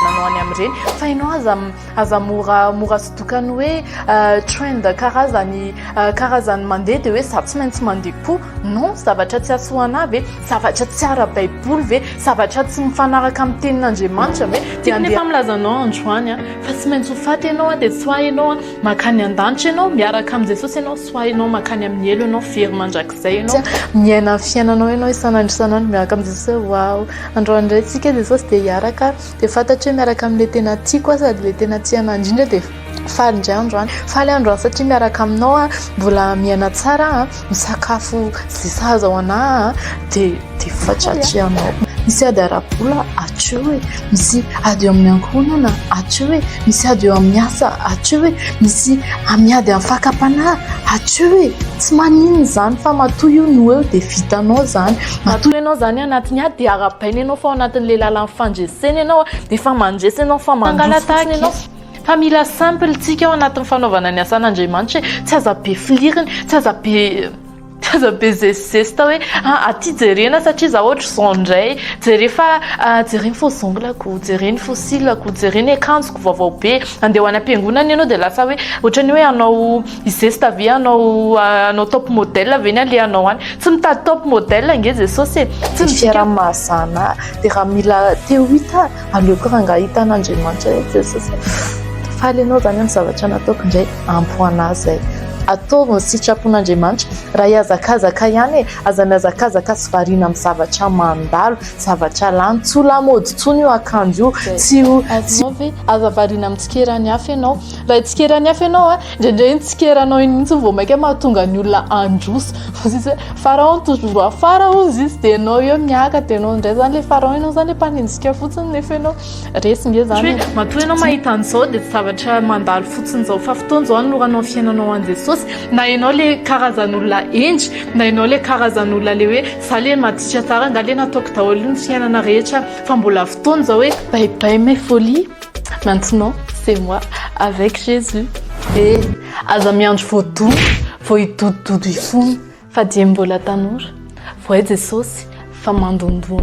nanao any amin'ireny fa ianao aza aza mora mora sodokany hoe euh, trend karazany euh, karazany mandeha dia hoe za tsy maintsy mandeha koa non zavatra tsy asoana ve zavatra tsy ara-baiboly ve zavatra tsy mifanaraka amin'ny tenin'andriamanitra ve dia andeha efa milazanao androany a fa tsy maintsy ho faty ianao a dia tsy ho ahy ianao a Mankany an-danitra ianao, miaraka amin'i Jesosy ianao, soahinao, mankany amin'ny helo ianao, very mandrakizay ianao, miaina ny fiainanao ianao isan'andro isan'andro miaraka amin'i Jesosy hoe waouh, androany indray tsika Jesosy dia hiaraka ary dia fantatro hoe miaraka amin'ilay tena tiako aho sady ilay tena tia anah indrindra dia faly indray androany, faly androany satria miaraka aminao aho, mbola miaina tsara aho. Misakafo ze sahaza ho anà an, de de fatratra ianao. Misy ady ara-bola hatreo e, misy ady eo amin'ny ankohonana hatreo e, misy ady eo amin'ny asa hatreo e, misy miady amin'ny fakam-panahy hatreo e, tsy maninona izany fa matoa io no eo dia vitanao izany. Matoa ianao izany anatin'ny ady dia arahabaina ianao fa ao anatin'ilay lalan'ny fandresena ianao dia efa mandresy ianao fa mandroso fotsiny ianao. Fa mila simple tsika ao anatin'ny fanaovana ny asan'Andriamanitra e, tsy aza be fliriny, tsy aza be tsy aza be zesizesita hoe ah aty jerena satria za ohatra zao indray, jere fa jere ny faux ongle-ko, jere ny faux cils-ko, jere ny akanjoko vaovao be, andeha ho any am-piangonana ianao dia lasa hoe ohatran'ny hoe hanao zesita ve hanao hanao top model ve ny alehanao any, tsy mitady top model ange Jesosy e! Ny fiaraha-mahazana dia raha mila te ho hita. Aleoko rangahy hita an'Andriamanitra hoe Jesosy hoe faly ianao izany amin'ny zavatra nataoko indray ampy anà izay. Ataovy ny sitrapon'Andriamanitra. Raha hihazakazaka ihany e, aza mihazakazaka sy variana amin'ny zavatra mandalo, zavatra lany. Tsy ho lamaody intsony io akanjo io. Tsy ho... Azonao ve? Aza variana amin'ny tsikeran'ny hafa ianao. Raha hitsikeran'ny hafa ianao a! Indraindray ny tsikera anao iny mihitsy vao mainka mahatonga ny olona handroso fa izy hoe pharaon toujours afara hozy izy dia ianao eo miaka dia ianao indray izany ilay pharaon ianao izany ilay mpanenjika fotsiny nefa ianao resy nge izany hoe matoa ianao mahita an'izao dia tsy zavatra mandalo fotsiny izao fa fotoana izao anoranao fiainanao an'i Jesosy na ianao ilay karazan'olona hendry na ianao ilay karazan'olona ilay hoe za ilay maditra tsara angaha ilay nataoko daholo ny fiainana rehetra fa mbola fotoana izao hoe bye bye mes folies Maintenant c'est moi avec Jésus eh! Aza miandry voadona vao hidodododo hifona Fa dieny mbola tanora Vohay Jesosy fa mandondona